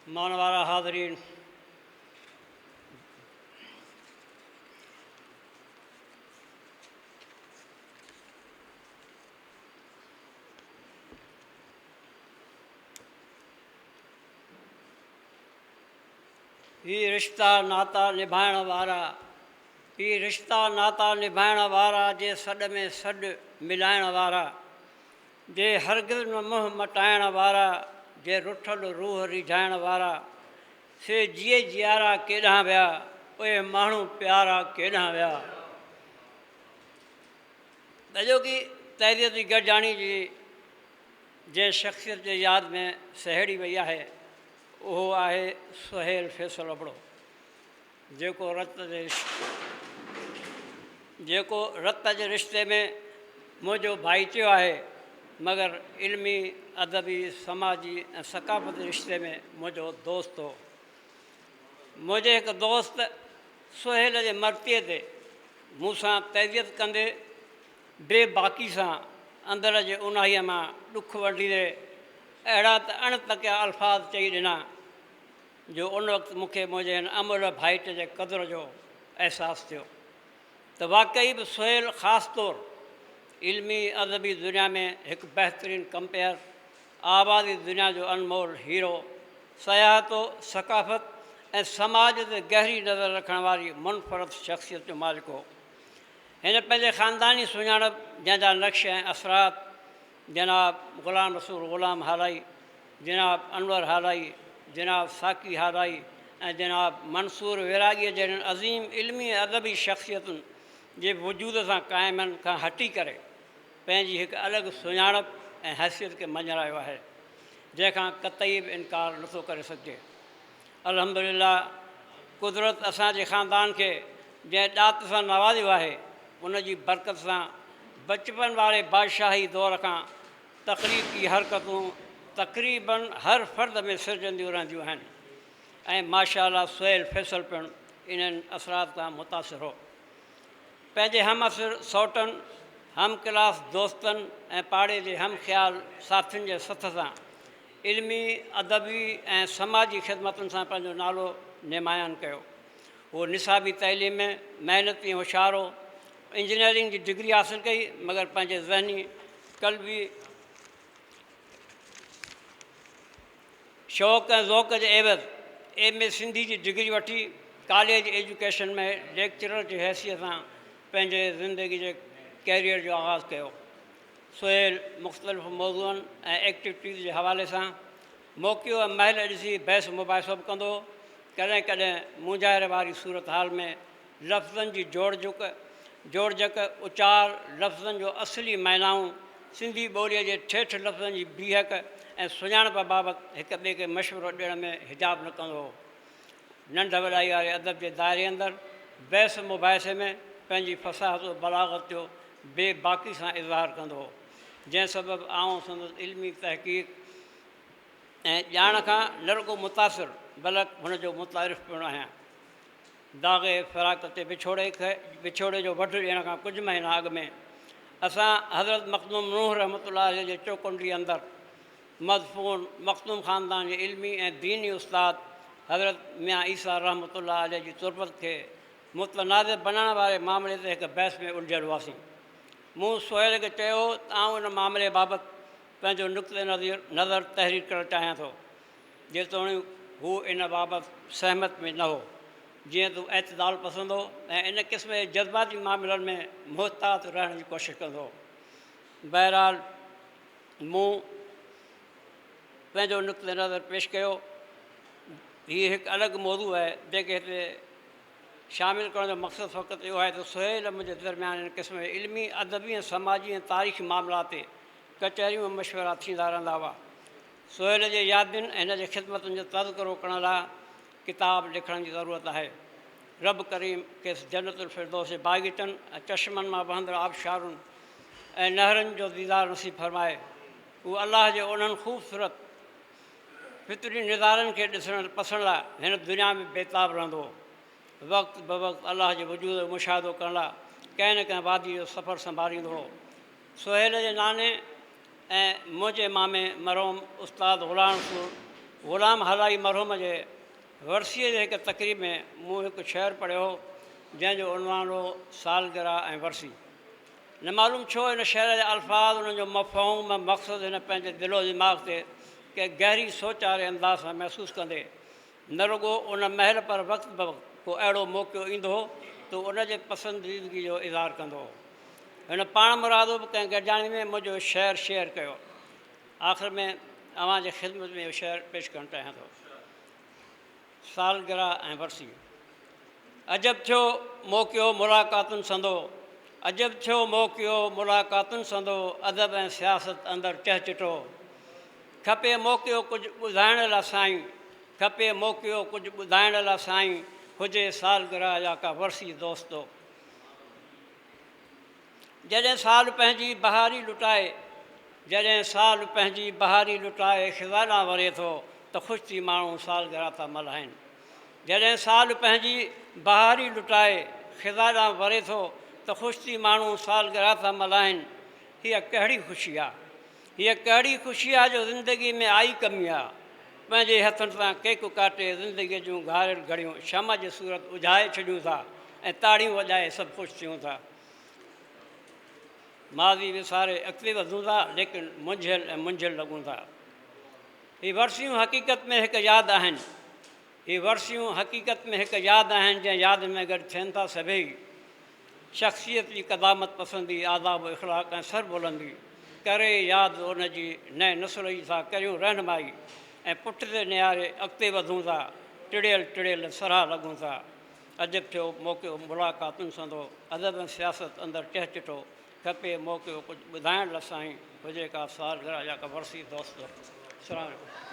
مان وارا حاضرين! هي رشتا ناتا نڀائڻ وارا هي رشتا ناتا نڀائڻ وارا جي سڏ ۾ سڏ ملائڻ وارا جي هرگز نه منهن مٽائڻ وارا، جي رٺل روح ريجهائڻ وارا، سي جيئي جيارا ڪيڏانهن ويا، اهي ماڻهو پيارا ڪيڏانهن ويا. ڏجوڪي تحرير جي گڏجاڻي جي جنهن شخصيت جي ياد ۾ سهيڙي وئي آهي اهو آهي سهيل فيصل ابڙو. جيڪو رت جي رشتي ۾ منهنجو ڀائيٽيو آهي، مگر علمي، ادبي، سماجي ۽ ثقافتي رشتي ۾ منهنجو دوست هو. منهنجي هڪ دوست سهيل جي مرتيء تي مون سان تعزيت ڪندي بي باڪي سان اندر جي اونهائيء مان ڏک ونڊيندي اهڙا ته اڻ تڪيا الفاظ چئي ڏنا، جو ان وقت مون کي منهنجي هن املهه ڀائٽ جي قدر جو احساس ٿيو ته واقعي به سهيل خاص طور علمي ادبي دنيا ۾ هڪ بهترين ڪمپيئر، آوازي دنيا جو انمول هيرو، سياحتو ثقافت ۽ سماج تي گهري نظر رکڻ واري منفرد شخصيت جو مالڪ هو. هن پنهنجي خانداني سڃاڻپ جنهن جا نقش ۽ اثرات جناب غلام رسول غلام هالائي، جناب انور هالائي، جناب ساقي هالائي ۽ جناب منصور ويراڳيء جهڙين عظيم علمي ۽ ادبي شخصيتن جي وجود سان قائمن کان هٽي ڪري پنهنجي هڪ الڳ سڃاڻپ ۽ حيثيت کي مڃرايو آهي، جنهن کان قطعي به انڪار نٿو ڪري سگهجي. الحمدلله قدرت اسان جي خاندان کي جنهن ڏات سان نوازيو آهي ان جي برڪت سان بچپن واري بادشاهي دور کان تخليقي حرڪتون تقريباً هر فرد ۾ سرجنديون رهنديون آهن ۽ ماشاء الله سهيل فيصل پڻ انهن اثرات کان متاثر هو پنهنجي همعصر سئوٽن هم ڪلاس دوستن ۽ پاڙي جي هم خيال ساٿين جي سٿ سان علمي، ادبي ۽ سماجي خدمتن سان پنهنجو نالو نمايان ڪيو. هو نصابي تعليم ۾ محنتي ۽ هوشيار هو. انجنيئرنگ جي ڊگري حاصل ڪئي، مگر پنهنجي ذهني، قلبي شوق ۽ ذوق جي عيوض ايم اي سنڌي جي ڊگري وٺي ڪاليج ايجوڪيشن ۾ ليڪچرر جي حيثيت سان پنهنجي زندگي جي ڪيريئر جو آغاز ڪيو. سهيل مختلف موضوعن ۽ ايڪٽويٽيز جي حوالي سان موقعو ۽ مهل ڏسي بحث مباحثو به ڪندو هو. ڪڏهن ڪڏهن مونجهاري واري صورتحال ۾ لفظن جي جوڙجڪ، جوڙجڪ، اچار، لفظن جو اصلي معنائون، سنڌي ٻوليء جي ٺيٺ لفظن جي بيهڪ ۽ سڃاڻپ بابت هڪ ٻئي کي مشورو ڏيڻ ۾ حجاب نه ڪندو هو. ننڍ وڏائي واري ادب جي دائري اندر بحث مباحثي ۾ پنهنجي فصاحت و بلاغت جو بي باڪي سان اظهار ڪندو هو، جنهن سبب آئون سندس علمي تحقيق ۽ ڄاڻ کان نه رڳو متاثر بلڪ هن جو متعارف پڻ آهيان. داغ فراق تي وڇوڙي کي وڇوڙي جو وڍ ڏيڻ کان ڪجهه مهينا اڳ ۾ اسان حضرت مخدوم نوح رحمة الله عليه جي چوڪنڊي اندر مدفون مخدوم خاندان جي علمي ۽ ديني استاد حضرت ميان عيسيٰ رحمة الله عليه جي تربت کي متنازع بنائڻ واري معاملي تي هڪ بحث ۾ الجهيل هئاسين. مون سهيل کي چيو ته آئون ان معاملي بابت پنهنجو نقطه نظر تحرير ڪرڻ چاهيان ٿو، جيتوڻيڪ هو ان بابت سهمت ۾ نه هو، جيئن ته هو اعتدال پسند هو ۽ ان قسم جي جذباتي معاملن ۾ محتاط رهڻ جي ڪوشش ڪندو هو. بهرحال! مون پنهنجو نقطه نظر پيش ڪيو. هي هڪ الڳ موضوع آهي، جنهن کي هتي شامل ڪرڻ جو مقصد فقط اهو آهي ته سهيل ۽ منهنجي درميان هن قسم جي علمي، ادبي ۽ سماجي ۽ تاريخي معاملات تي ڪچهريون ۽ مشورا ٿيندا رهندا هئا. سهيل جي يادين ۽ هن جي خدمتن جو تذڪرو ڪرڻ لاء ڪتاب لکڻ جي ضرورت آهي. رب ڪريم کيس جنت الفردوس جي باغيچن ۽ چشمن مان وهندڙ آبشارن ۽ نهرن جو ديدار نصيب فرمائي. هو الله جي انهن خوبصورت فطري نظارن کي ڏسڻ پسڻ لاء هن دنيا ۾ بيتاب رهندو هو. وقت بوقت الله جي وجود جو مشاهدو ڪرڻ لاء ڪنهن نه ڪنهن واديء جو سفر سنڀاليندو هو. سهيل جي ناني ۽ منهنجي مامي مرحوم استاد غلام سور غلام هالائي مرحوم جي ورسيء جي هڪ تقريب ۾ مون هڪ شعر پڙهيو هو جنهن جو عنوان هو سالگره ۽ ورسي نه معلوم ڇو هن شعر جا الفاظ انهن جو مفهوم مقصد هن پنهنجي دل و دماغ تي ڪنهن گهري سوچ واري انداز سان محسوس ڪندي نه رڳو ان مهل پر وقت بوقت ڪو اهڙو موقعو ايندو هو ته ان جي پسنديدگي جو اظهار ڪندو هو. هن پاڻمرادو به ڪنهن گڏجاڻي ۾ منهنجو شعر شيئر ڪيو. آخر ۾ اوهان جي خدمت ۾ اهو شعر پيش ڪرڻ چاهيان ٿو. سالگرهه ۽ ورسي. عجب ٿيو موقعو ملاقاتن سندو عجب ٿيو موقعو ملاقاتن سندو ادب ۽ سياست اندر چهچٽو. کپي موقعو ڪجهه ٻڌائڻ لا سائين. کپي موقعو ڪجهه ٻڌائڻ لا سائين. هجي سالگرهه يا ڪا ورسي دوستو. جڏهن سال پنهنجي بهاري لٽائي. جڏهن سال پنهنجي بهاري لٽائي خزا ڏانهن وري ٿو ته خوش ٿي ماڻهو سالگرهه ٿا ملهائين. جڏهن سال پنهنجي بهاري لٽائي خزا ڏانهن وري ٿو ته خوش ٿي ماڻهو سالگرهه ٿا ملهائين. هيء ڪهڙي خوشي آ؟ هيء ڪهڙي خوشي آ جو زندگيء ۾ آئي ڪمي آ. پنهنجي هٿن سان ڪيڪ ڪاٽي زندگيء جون گهاريل گهڙيون شمع جي صورت اجهائي ڇڏيون ٿا ۽ تاڙيون وڄائي سڀ خوش ٿيون ٿا. ماضي وساري اڳتي وڌون ٿا ليڪن منجهيل ۽ منجهيل لڳون ٿا. هي ورسيون حقيقت ۾ هڪ ياد آهن. هي ورسيون حقيقت ۾ هڪ ياد آهن جنهن ياد ۾ گڏ ٿين ٿا سڀيئي. شخصيت جي قدامت پسندي، آداب و اخلاق ۽ سربلندي ڪري ياد ان جي نئين نسل جي ٿا ڪريون رهنمائي ۽ پٺتي نهاري اڳتي وڌون ٿا ٽڙيل ٽڙيل سرها لڳون ٿا عجب ٿيو موقعو ملاقاتن سندو ادب ۽ سياست اندر ٽهچٽو کپي موقعو ڪجهه ٻڌائڻ لا سائين هجي ڪا سالگرهه يا ڪا ورسي دوستو سلام عليڪم.